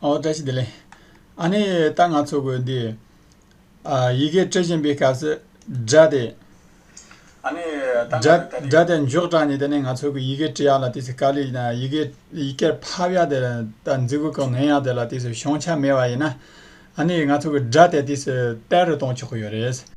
ཨོ་བཀྲ་ཤིས་བདེ་ལེགས། ཨ་ནི་ད་ང་ཚོ་གོ་འདི། ཡི་གེ་སྤྲོད་བཞིན་པའི་སྐབས་སུ་སྒྲ་དེ། སྒྲ་དེ་མགྱོགས་དྲགས་ནས་དེ་ནས་ང་ཚོ་གོ་ཡི་གེ་བྲི་ཡག་ལ་དེ་ཚོ་ཀ་ལི་ཡི་གེ་ཡི་གེར་ཕབ་ཡག་དེ་ད་འཛི་གོ་གང་ནོན་ཡག་དེ་ལ་དེ་ཚོ་ཤོང་ཆ་མེད་པ་ཡིན་ན། ཨ་ནི་ང་ཚོ་གོ་སྒྲ་དེ་དེ་ཚོ་དཔེ་རུ་གཏོང་ཆོག་གོ་ཡོད་རེད།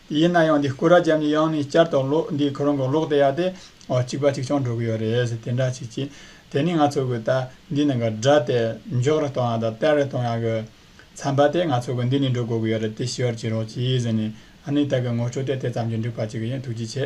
ཡིན་ན་ཡང་འདི་སྐུ་ར་རྒྱབ་ནས་ཡང་ནས་བསྐྱར་དུ་ཀློག་འདིའི་ཁོ་རང་གི་ཀློག་བདེ་ཡག་དེ། ཨོ་གཅིག་པ་གཅིག་ཆང་འགྲོ་གི་ཡོད་རེད་ཟེར་དེ་འདྲ་བྱེད་ཀྱིས། དེ་ནི་ང་ཚོ་གི་ད་འདི་ནས་གི་སྒྲ་དེ་མགྱོགས་རེ་གཏོང་ཡག་དང་བརྟན་རེ་གཏོང་ཡག་གི། མཚམས་པ་དེ་ང་ཚོ་གི་འདི་ནས་འགྲོ་དགོས་གི་ཡོད་རེད་དེ་ཞི་བར་བྱེད་རོགས་གྱིས་ཟེར་ནས་ཨ་ནི་ད་གི་ངོ་སྤྲོད་དེ་དེ་ཙམ་གྱིས་འགྲིག་པ་ཅིག་ཡིན་ཐུགས་རྗེ་ཆེ།